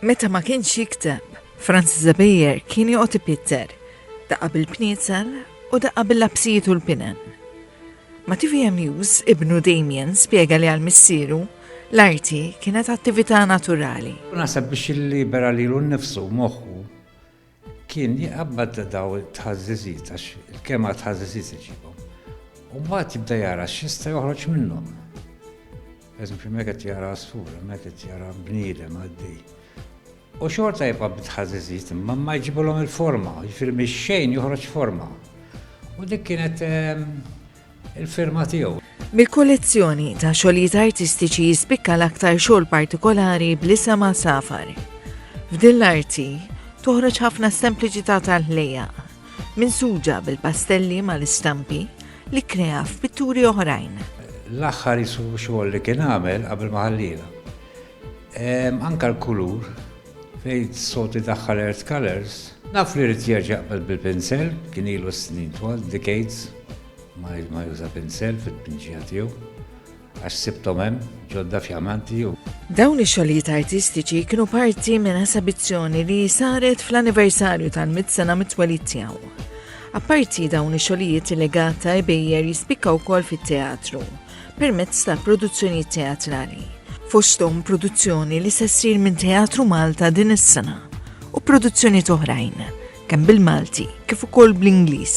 Meta ma kienx jikteb, Franz Zabejer kien joqgħod ipitter, daqqa bil-pniezel u daqqa bil-lapsijiet u l-pinen. Ma TVM News, ibnu Damien spjega li għal-missieru l-arti kienet attività naturali. Naħseb biex il-libera lilu nnifsu moħħu Kien jqabbad dawn it-tħażżiżiet għax il-kema għat-tħażżiżiet iġibhom. U mbagħad jibda jara x'jista' joħroġ minnhom. Pereżempju, hemmhekk qed jara għasfur, hemmhekk qed jara bniedem għaddej. U xorta jibqa' bit-tħażżiżiet imma ma jġibulhom il-forma, jiġifieri mix-xejn joħroġ forma. U dik kienet ehm, il-firma tiegħu. Mill-kollezzjoni ta' xogħlijiet artistiċi jispikka l-aktar xogħol partikolari bl-isem safar. F'din l-arti toħroġ ħafna sempliċità tal-ħlejja, minn suġa bil-pastelli mal-istampi li krea f'pitturi oħrajn. L-aħħar jisu xogħol li kien għamel qabel ma ħallina. Anke l-kulur, fejn s-soltu jdaħħal earth colours. Naf li jrid jerġa' jaqbad bil-pinsell, kien ilu snin twal, decades, ma juża pinsell fit-tpinġija tiegħu, għax sibthom hemm, ġodda fjamanti u. Dawn ix-xogħlijiet artistiċi kienu parti minn esabizzjoni li saret fl-anniversarju tal-mit sena mit-twelid tiegħu. Apparti dawn ix-xogħlijiet il-legat ta' Ebejjer jispikka wkoll fit-teatru permezz ta' produzzjonijiet teatrali, fosthom produzzjoni li se ssir minn Teatru Malta din is-sena u produzzjonijiet oħrajn, kemm bil-Malti kif ukoll bl-Ingliż.